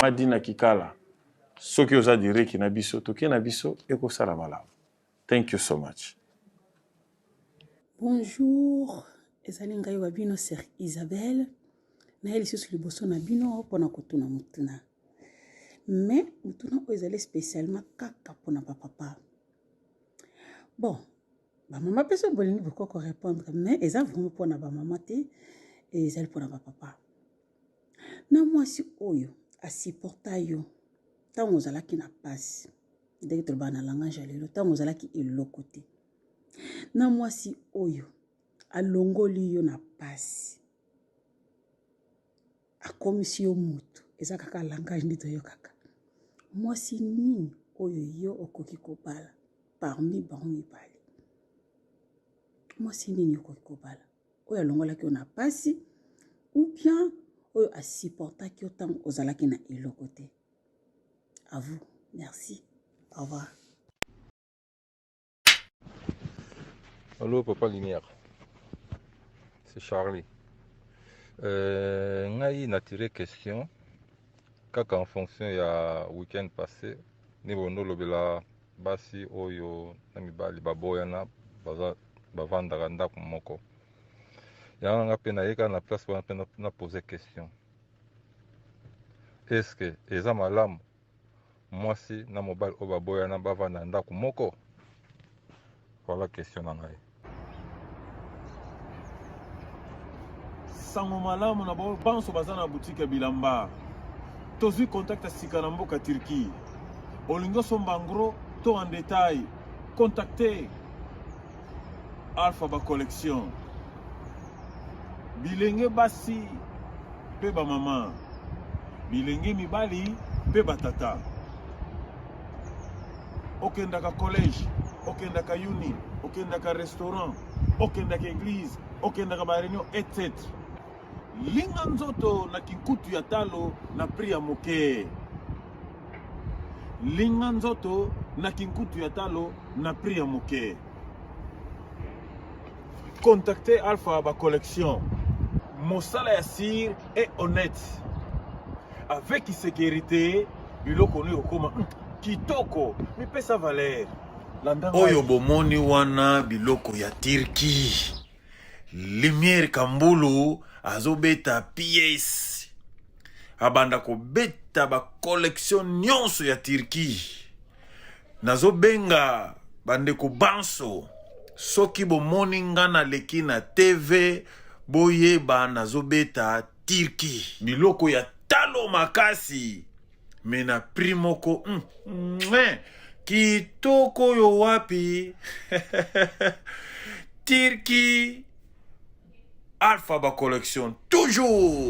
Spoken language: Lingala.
madi na kikala soki oza direki na biso toke na biso ekosala malamu thank you so much bonjour ezali ngai wa bino ser isabelle naye lisusu liboso na bino mpona kotuna motuna mais motuna oyo ezali spécialement kaka mpona bapapa bon bamama mpe soki bolingi bokoko répondre mais eza vraiment mpo na bamama te ezali mpo na bapapa na mwasi oyo asupporta yo ntango ozalaki na mpasi ndenge tolobaka na langage ya lelo ntango ozalaki eloko te na mwasi oyo alongoli yo na mpasi akomisi yo mutu eza kaka langage nde toyokaka mwasi nini oyo yo okoki kobala parmi bango mibale mwasi nini okoki kobala oyo alongolaki yo na pasi ou bien oyo asupportaki yo ntango ozalaki na eloko te à vous merci au revoir Allô, papa Lumière. C'est Charlie. Euh, ngai na tiré question kaka en fonction ya week-end passé ni bondo lobela basi oyo na mibali baboyana baza bavandaka ndako moko yango nanga mpe nayeka na place wana mpe na pose question est ce que eza malamu mwasi na mobali oyo baboyana bavanda na ndako moko voilà question na ngai sango malamu na baoyo banso baza na butike ya bilamba tozwi contact ya sika na mboka turquie olingi osomba ngro to en detail contacte Alpha ba collection bilenge basi mpe bamama bilenge mibali mpe batata okendaka collège okendaka uni okendaka restaurant okendaka église okendaka bareunion etc linga nzoto na kinkutu ya talo na prix ya moke linga nzoto na kinkutu ya talo na prix ya moke contacte alpha ba collection mosala ya sir est honnête avec sécurité biloko oyo okoma hmm, kitoko mipesa valeur oyo bomoni wana biloko ya turquie Lumière Kambulu azobeta pièce abanda kobeta ba collection nyonso ya Turquie nazobenga bandeko banso soki bomoni nga naleki na TV boyeba nazobeta Turquie biloko ya talo makasi me na prix moko mm, mm, kitoko oyo wapi tirki alpha ba collection toujours